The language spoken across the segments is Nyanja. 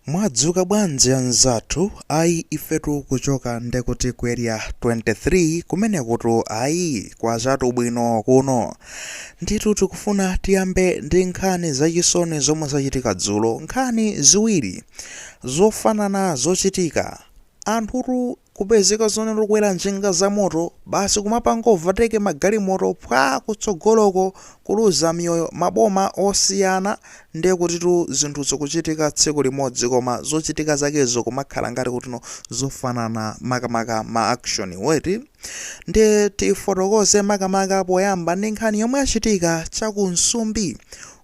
Mwadzuka bwanji anzathu, ayi ifetu kuchoka ndekuti ku area 23 kumenekutu ayi kwachatu bwino kuno. Ndithu tikufuna tiyambe ndi nkhani zachisoni zomwe zachitika dzulo, nkhani ziwiri zofanana zochitika Anthutu kupezeka zonena okwera njinga za moto basi kumapanga overtake magalimoto phwaa kutsogoloko kuluza miyoyo maboma osiyana ndiye kutitu zinthu zikuchitika tsiku limodzi koma zochitika zakezo kumakhala ngati kutino zofanana makamaka ma action wo eti ndiye tifotokoze makamaka poyamba ndi nkhani yomwe yachitika cha ku Msumbi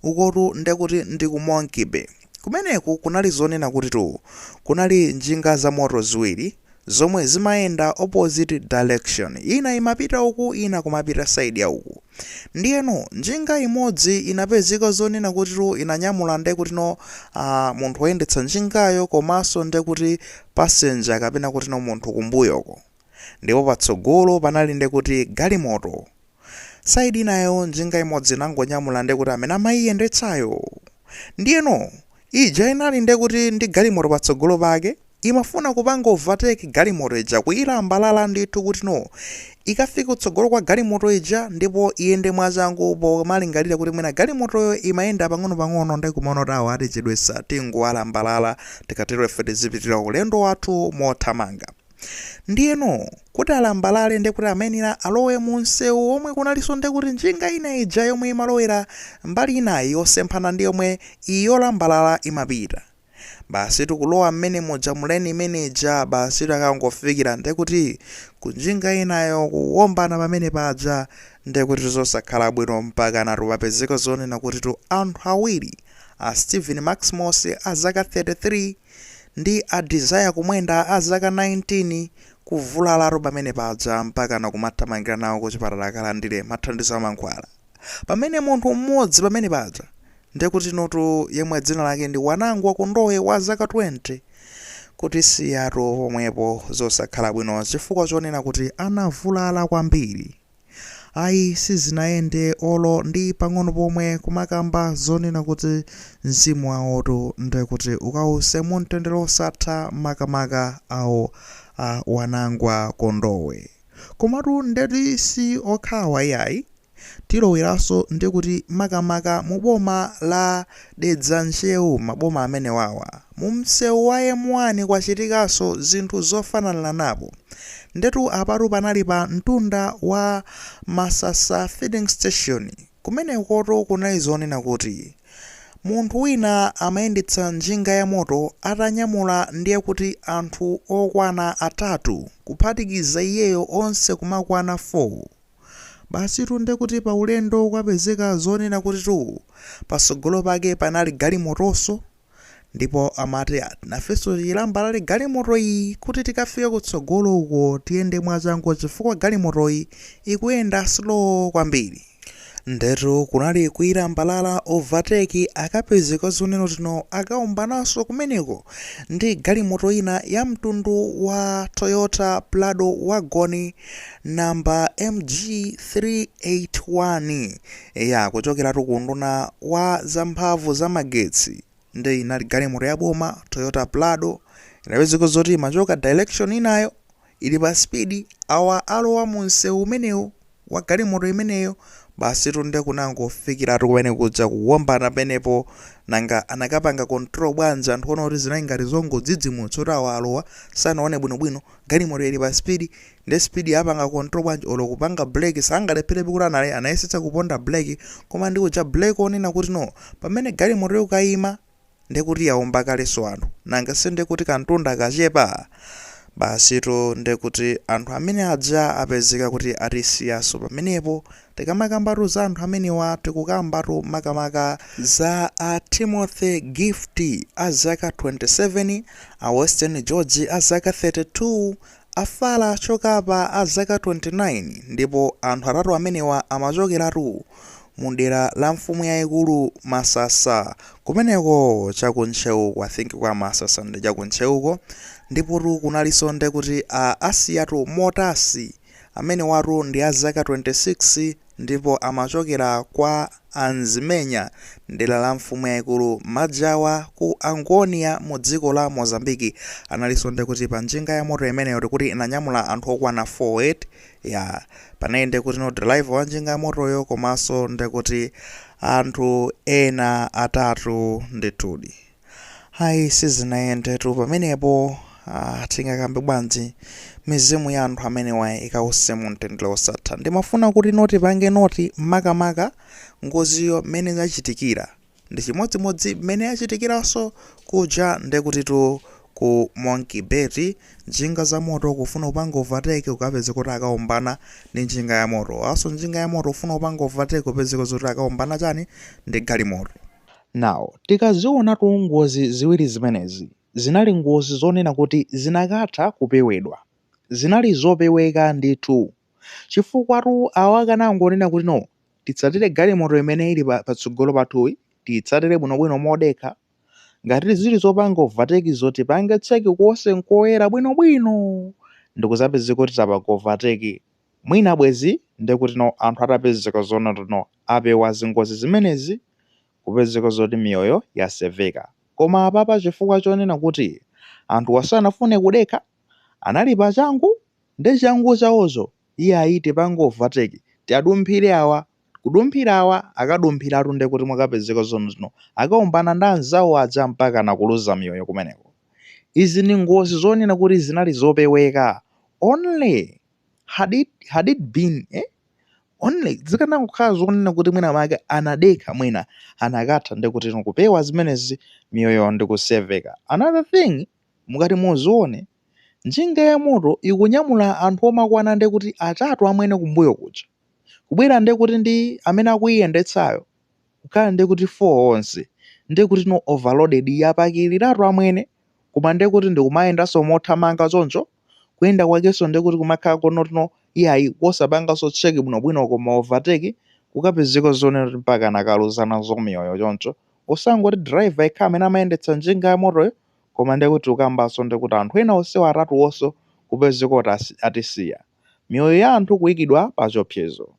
ukotu ndekuti ndi ku Monkey Bay Kumeneku kunali zonena kutitu kunali njinga za moto ziwiri zomwe zimayenda opposite direction, ina imapita uku ina kumapita side ya uku. Ndiyeno njinga imodzi inapezeka zonena kutitu inanyamula ndekutino uh, munthu woyendetsa njingayo komanso ndekuti passenger kapena kutino munthu kumbuyoko. Ndipo patsogolo panali ndekuti galimoto. Side inayo njinga imodzi inangonyamula ndekuti amene amayiyendetsayo. Ndiyeno, ija inali ndekuti ndi galimoto patsogolo pake, imafuna kupanga overtake galimoto ija, kuyilambalala ndithu kutino, ikafike kutsogolo kwa galimoto ija ndipo iyende mwachangu pomalingalira kuti mwina galimotoyo imayenda pang'onopang'ono nde kumaona kuti awa atichedwetsa tingowalambalala, tikatero ife tizipitirira ulendo wathu mothamanga. Ndiyeno kuti alambalale ndekuti amayenera alowe mu msewu womwe kunalinso ndekuti njinga ina ija yomwe imalowera mbali inayi yosemphana ndi yomwe iyi yolambalala imapita. Basi tikulowa mmene muja mu lane imene ija basi takangofikira ndekuti ku njinga inayo kuwombana pamene paja ndekuti zosakhala bwino mpakanatu papezeka zonena kutitu anthu awiri a Stephen Maximos a zaka 33 Ndi a Desire Kumwenda a zaka 19 kuvulalatu pamene paja mpakana kumathamangira nawo kuchipatala akalandire mathandizo a mankhwala. Pamene munthu m'modzi pamene paja ndekutinotu yemwe dzina lake ndi Wanangwa Kondowe wa zaka 20 kutisiyatu pomwepo zosakhala bwino chifukwa chonena kuti anavulala kwambiri. Ayi sizinayende olo ndi pang'ono pomwe kumakamba zonena kuti mzimu wawotu ndekuti ukawuse mu mtendere osatha makamaka awo a Wanangwa Kondowe komatu ndeti si okhawa iyayi tiloweranso ndekuti makamaka mu boma la Dedza Ntcheu maboma amenewawa mu mseu wa M1 kwachitikanso zinthu zofananiranapo ndetu apatu panali pa ntunda wa Masasa filling station kumenekotu kunali zonena kuti munthu wina amayendetsa njinga ya moto atanyamula ndiye kuti anthu okwana atatu kuphatikiza iyeyo onse kumakwana 4 Basitu nde kuti paulendo kwapezeka zonena kutitu patsogolo pake panali galimotonso ndipo amati nafenso tiilambalale galimotoyi kuti tikafike kutsogolo uko tiyende mwachangu chifukwa galimotoyi ikuyenda slow kwambiri. Ndetu kunali kuilambalala overtake akapezeka zonena kuti no akaombananso kumeneko ndi galimoto ina yamtundu wa Toyota Prado wagon number MG381 ya kuchokeratu ku unduna wa zamphamvu za magetsi nde inali galimoto ya boma Toyota Prado inapezeka zoti imachoka direction inayo ili pa speed awa alowa mu msewu umenewu wa galimoto imeneyo basi tunde kunangofikiratu kumene kudza kuwombana pamenepo nanga anakapanga control bwanji anthu ona kuti zinali ngati zongodzidzimutsa kuti awa alowa sanaone bwinobwino Galimoto ili pa speed nde speed apanga control bwanji olo kupanga brake sangalepherebe kuti anayesetsa kuponda brake koma ndi kuja brake onena kuti no pamene galimoto ikukaima nde kuti yaomba kalenso anthu nanga si nde kuti kantunda kachepa basitu nde kuti anthu amene aja apezeka kuti atisiyanso pamenepo Tikamakambatu za anthu amenewa tikukambatu makamaka za a Timothy Gift a zaka 27, a Western George a zaka 32, a Fala Chokapa a zaka 29 ndipo anthu atatu amenewa amachokeratu mu dera la mfumu yaikulu Masasa kumeneko cha ku Ntcheuko, I think kwa Masasa ndi cha ku Ntcheuko, ndipotu kunalinso ndekuti a Asiyatu Motasi. Amenewatu ndi a zaka 26 ndipo amachokera kwa a Nzimenya m'dera la mfumu yaikulu Majawa ku Angônia mu dziko la Mozambique. Analinso nde kuti pa njinga ya moto imeneyo tikuti inanyamula anthu okwana 4 eti? Ya, panali nde kuti no driver wa njinga ya motoyo komanso nde kuti anthu ena atatu ndithudi. Ayi sizinayendetu pamenepo. Ah, tingakambe bwanji mizimu ya anthu amenewa ikause mu mtendere wosatha. Ndimafuna kuti no tipange note makamaka ngoziyo mmene yachitikira ndi chimodzimodzi mmene yachitikiranso kuja ndekutitu ku Monkey Bay njinga za moto kufuna kupanga overtake ukapeze kuti akaombana ndi njinga ya moto awanso njinga ya moto kufuna kupanga overtake upezeka zoti akaombana chani ndi galimoto. Now tikazionatu ngozi ziwiri zimenezi zinali ngozi zonena kuti zinakatha kupewedwa. Zinali zopeweka ndithu chifukwatu awo akanangonena kuti no titsatire galimoto imene ili patsogolo pathuyi titsatire bwinobwino modekha ngati zili zopanga overtake zo tipange check konse nkoyera bwinobwino ndikuzapezeka kuti tapanga overtake Mwina bwezi nde kuti no anthu atapezeka zoona kuti no apewa zingozi zimenezi kupezeka zoti miyoyo yaseveka koma apapa chifukwa chonena kuti anthuwa sanafune kudekha anali pa changu ndi changu chaocho iyayi tipange overtake tiadumphire awa kudumphira awa akadumphiratu nde kuti mwakapezeka zonoti no akaombana ndi anzawo aja mpakana kuluza miyoyo kumeneko izi ndi ngozi zonena kuti zinali zopeweka only had, had it been eh? only zikanangokhala zonena kuti mwina make anadekha mwina anakatha ndikuti kupewa zimenezi miyoyo ndikuseveka another thing mukati muzione njinga ya moto ikunyamula anthu omakwana ndikuti atatu amwene kumbuyo kuja kubwera ndikuti ndi amene akuyiyendetsayo kukhala ndiye kuti 4 onse ndiye kuti no overloaded yapakiliratu amwene koma ndiye kuti ndikumayendanso mothamanga choncho kuyenda kwakenso ndiye kuti kumakhala konotino iyayi kosapanganso check bwinobwino koma overtake kukapezeka zonena kuti mpakana kaluza nazo miyoyo choncho osangoti driver yekha amene amayendetsa njinga ya motoyo koma ndiye kuti ukambanso ndiye kuti anthu ena onsewo atatuwonso kupezeka kuti atisiya miyoyo ya anthu kuikidwa pa chiopsezo.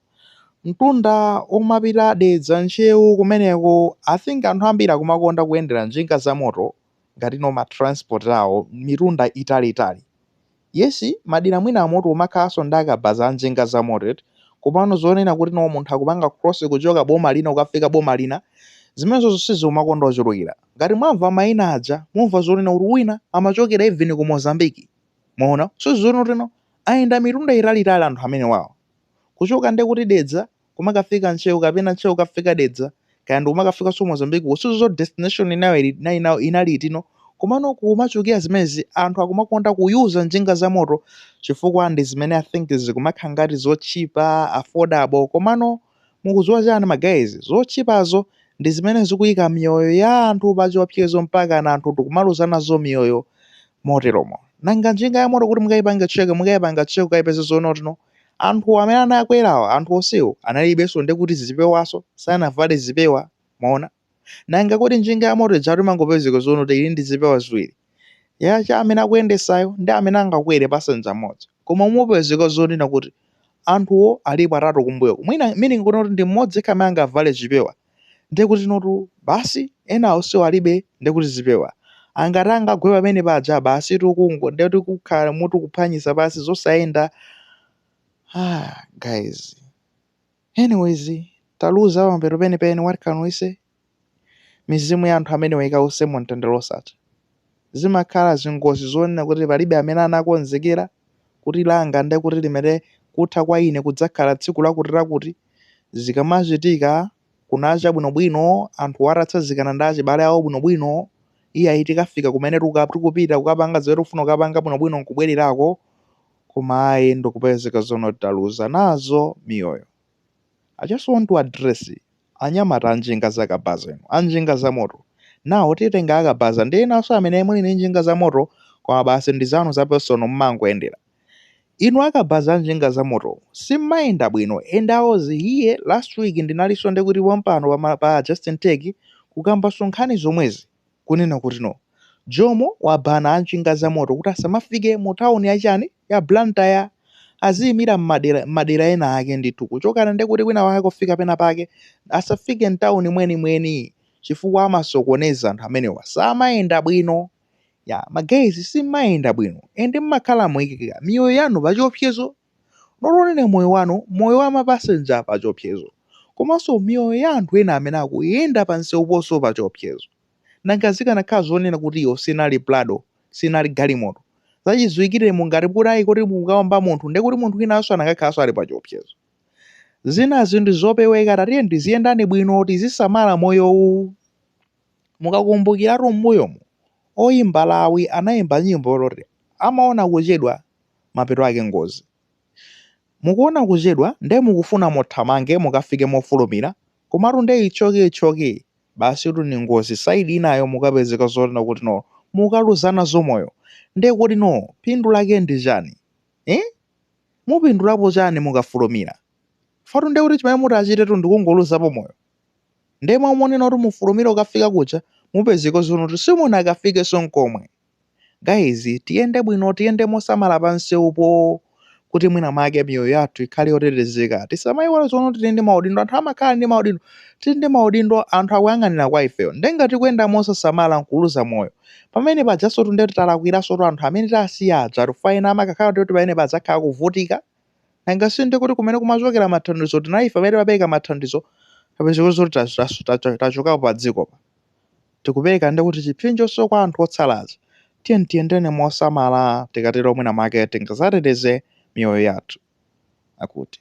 Mtunda womapita Dedza Ntcheu kumeneko I think anthu ambiri akumakonda kuyendera njinga za moto ngati no ma transport awo mitunda itali itali. Yes madera mwina amoto umakhalanso ndi akabaza a njinga za moto komano zonena kuti no munthu akupanga cross kuchoka boma lina ukafika boma lina zimenezozo siziumakonda ochulukira. Ngati mwamva maina aja mumva zonena kuti wina amachokera even ku Mozambique. Mwaona? So zonotino ayenda mitunda italiitali anthu amenewawa. Kuchoka nde kuti Dedza kumakafika Ntcheu kapena Ntcheu kukafika Dedza kaya ndikumakafikanso Mozambique ko sizot destination inayo inali itino komano kumachulukira zimenezi anthu akumakonda ku user njinga za moto chifukwa ndi zimene I think zikumakhala ngati zotchipa affordable komano Mukudziwa chani ma guys zotchipazo ndizimene zikuika miyoyo ya anthu pachiopsezo mpakana anthu tikumaluza nazo miyoyo moteromo. Nanga njinga ya moto kuti mukaipanga check mukaipanga check kukaipeza zoonotino anthu amene anakwerawa anthu onsewo analibenso ndekuti zipewanso sanavale zipewa mwaona. Nanga kodi njinga yamoto ija ijatu imangopezeka zonena kuti ili ndi zipewa ziwiri? Ya cha amene akuyendesayo ndi amene angakwere passenger mmodzi. Koma mupezeka zonena kuti anthuwo alipo atatu kumbuyoku. Mwina meaning kunena kuti ndi mmodzi yekha amene angavale chipewa. Ndiye kuti notu basi ena onsewo alibe ndiye kuti zipewa. Angati angagwe pamene paja basi tukungo ndiye kuti kukhala mutu kuphwanyisa basi zosayenda. Ah, guys. Anyways taluza pamapeto penipeni what can we say? Mizimu ya anthu amenewa ikause mumtendere wosatha. Zimakhala zingozi zonena kuti palibe amene anakonzekera kuti langa nde kuti limene kutha kwa ine kudzakhala tsiku lakutilakuti, zikamachitika kunacha bwinobwino anthuwo atatsazikana ndi achibale awo bwinobwino, iyayi tikafika kumene tikupita kukapanga zimene tikufuna kukapanga bwinobwino n'kubwererako. koma ayi ndikupezeka zonena kuti taluza nazo miyoyo. I just want to address anyamata anjinga za kabaza inu, anjinga za moto. Now titenga akabaza ndi enanso amene muli ndi njinga za moto koma basi ndi zanu za personal mmangoyendera. Inu akabaza anjinga za moto simmayenda bwino and I was here last week ndinalinso ndikuti pompano pa, ma, pa Justin Tech kukambanso nkhani zomwezi. kunena kuti no. Jomo wabana a njinga za moto kuti asamafike mu town ya chani? ya Blantyre. Aziyimira mmadera, mmadera ena ake ndithu. Kuchokana ndi kuti kwina kwake kufika pena pake. Asafike mtown mweni mweni chifukwa amasokoneza anthu amenewa samayenda bwino. Yeah ma guys simmayenda bwino and mmakhala mukuika miyoyo yanu pachiopsezo. not only moyo wanu moyo wa ma passenger pachiopsezo komanso miyoyo ya anthu ena amene akuyenda pa nsewuponso pachiopsezo. Nanga zikanakhala zonena kuti iyo sinali prado, sinali galimoto, zachidziwikire ngati kuti ayi koti mukawomba munthu ndiye kuti munthu winanso anakakhalanso ali pachiopsezo. Zinazi ndi zopeweka tatiyeni tiziyendani bwino tizisamala moyowu. Mukakumbukiratu m'mbuyomu oyimba Lawi anayimba nyimbo loti amaona kuchedwa. mapeto ake ngozi. Mukuona kuchedwa nde mukufuna muthamange mukafike mofulumira komatu nde ichoke ichoke basitu ndi ngozi side inayo mukapezeka zonena kuti no mukaluza nazo moyo nde kuti no phindu lake ndi chani eeh mupindulapo chani mukafulumira chifukwa-tu ndekuti chimene muti achite-tu ndikungoluzapo moyo nde mau monena kuti mufulumire kukafika kuja mupezeke zonena kuti simunakafikenso nkomwe. guys tiyende bwino tiyende mosamala pa msewupo kuti mwina mwake miyoyo yathu ikhale yotetezeka tisamayiwale zoti tili ndi maudindo anthu amakhala ndi maudindo tili ndi maudindo anthu akuyang'anira kwa ifeyo nde ngati tikuyenda mosasamala nkuluza moyo pamene pajaso ndekuti talakwiranso to anthu amene tasiya aja tikufa ena amakakhala kuti pamene pazakhala kuvutika nanga si ndekuti kumene kumachokera mathandizo tinali ife amene timapereka mathandizo kupezeka kuti zoti tachokapo pa dziko pa tikupereka ndekuti chipsinjoso kwa anthu otsala aja. Tiyeni tiyendeni mosamala, tikatero mwinamwake tingadzateteze miyoyo yathu, akuti.